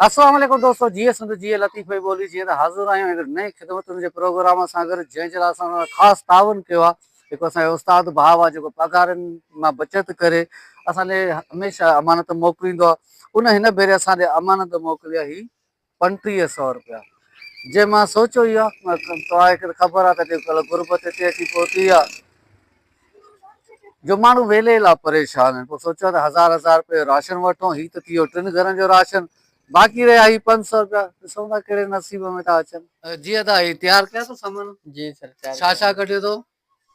السلام عليڪم دوستو جيئي سنڌ جيئي لطيف ڀئي ٻولي جيئي ته حاضر آهيون هڪڙي نئين خدمتن جي پروگرام سان گڏ جنهن جي لاء اسان سان خاص تعاون ڪيو آهي هڪ اسان جو استاد ڀاء آهي جيڪو پگهارن مان بچت ڪري اسان ڏي هميشه امانت موڪليندو آهي ان هن ڀيري اسان ڏي امانت موڪلي آهي پنٽيهه سؤ روپيا جي مان سوچو ئي آهي توهان کي خبر آهي ته غربت هتي اچي پهتي آهي جو ماڻهو ويلي لا پريشان آهن پوء سوچيو ته هزار هزار رپيو راشن وٺون هي ته ٿيو ٽن گهرن جو راشن باقي رهيا هي پنج سؤ رپيا ڏسون ٿا ڪهڙي نصيب ۾ ٿا اچن. جي ادا هي تيار ڪيا اٿو سامان. جي سر تيار ڇا ڇا ڪڍيو اٿو.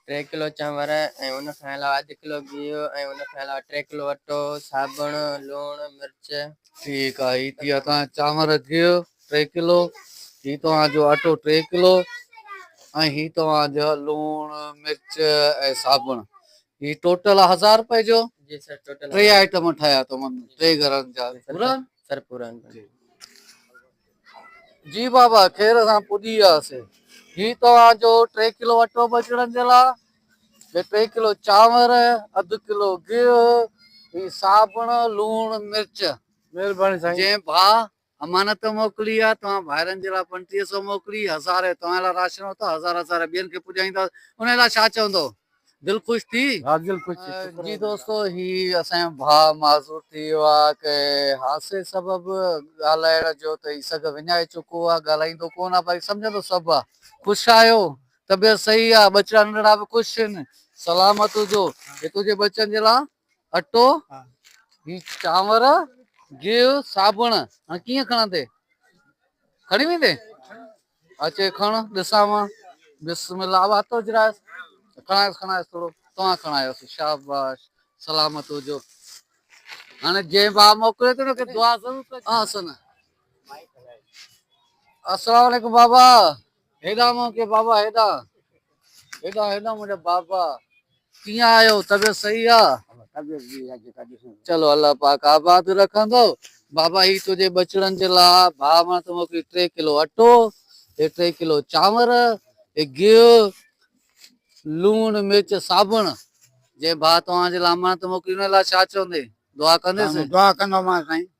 ٽي ڪلو چانور ۽ ان کان علاوه اڌ ڪلو گيهه ۽ ان کان علاوه ٽي ڪلو اٽو صابڻ لوڻ مرچ. ٺيڪ آ هي ٿيا تان چانور گيهه ٽي ڪلو هي توهان جو اٽو ٽي ڪلو ۽ هي توهان جو لوڻ مرچ ۽ صابڻ هي ٽوٽل هزار روپئي جو جي سر ٽوٽل ٽي آئٽم ٺاهيا تمن ٽي گھرن جا پورا سر پورا جي بابا خير سان پڄي وياسي هي توهان جو ٽي ڪلو اٽو بچڙن جي لاء ٽي ڪلو چانور اڌ ڪلو گيهه هي صابڻ لوڻ مرچ مهرباني سائين جي ڀا امانت موڪلي آ، توهان ڀائرن جي لاء پنٽيهه سئو موڪلي، هزارين توهان لاء راشن ورتو، هزار هزارين ٻين کي پڄائينداس، انهيء لاء ڇا چوندؤ؟ دل خوش ٿي؟ ها دل خوش ٿي، شڪر آ. جي دوستو، هي اسان جو ڀاء معذور ٿي ويو آ، ڪنهن حادثي سبب ڳالهائڻ جو ته هي سگهه وڃائي چڪو آ، ڳالهائيندو ڪونه آ، باقي سمجهندو سڀ آ. خوش آهيو؟ طبيعت صحيح آ؟ ٻچڙا ننڍڙا به خوش هن؟ سلامت هجو. هي تنهنجي ٻچن جي لاء اٽو هي چانور گيهه صابڻ هاڻي ڪيئن کڻندي کڻي ويندي اچي کڻ ڏسان مان بسم الله اب هٿ اجرائس کڻائس کڻائس ٿورو توهان کڻايوس شاباش سلامت هجو هاڻي جي با موڪلي ته انکي دعا ضرور ڪجي احسن السلام عليڪم بابا هيڏانهن مون کي بابا هيڏانهن. هيڏانهن هيڏانهن منهنجا بابا. ڪيئن آهيو طبيعت صحيح آ. طبيعت جي آ جيڪا ڏسون. چلو الله پاڪ آباد رکندو. بابا هي تنهنجي ٻچڙن جي لاء ڀاء مان ٿو موڪلين ٽي ڪلو اٽو هي ٽي ڪلو چانور هي گيهه لوڻ مرچ صابڻ جي ڀاء توهان جي لاء امان ٿو موڪلين ان لاء ڇا چوندين دعا ڪنديس. دعا ڪندومانس سائين.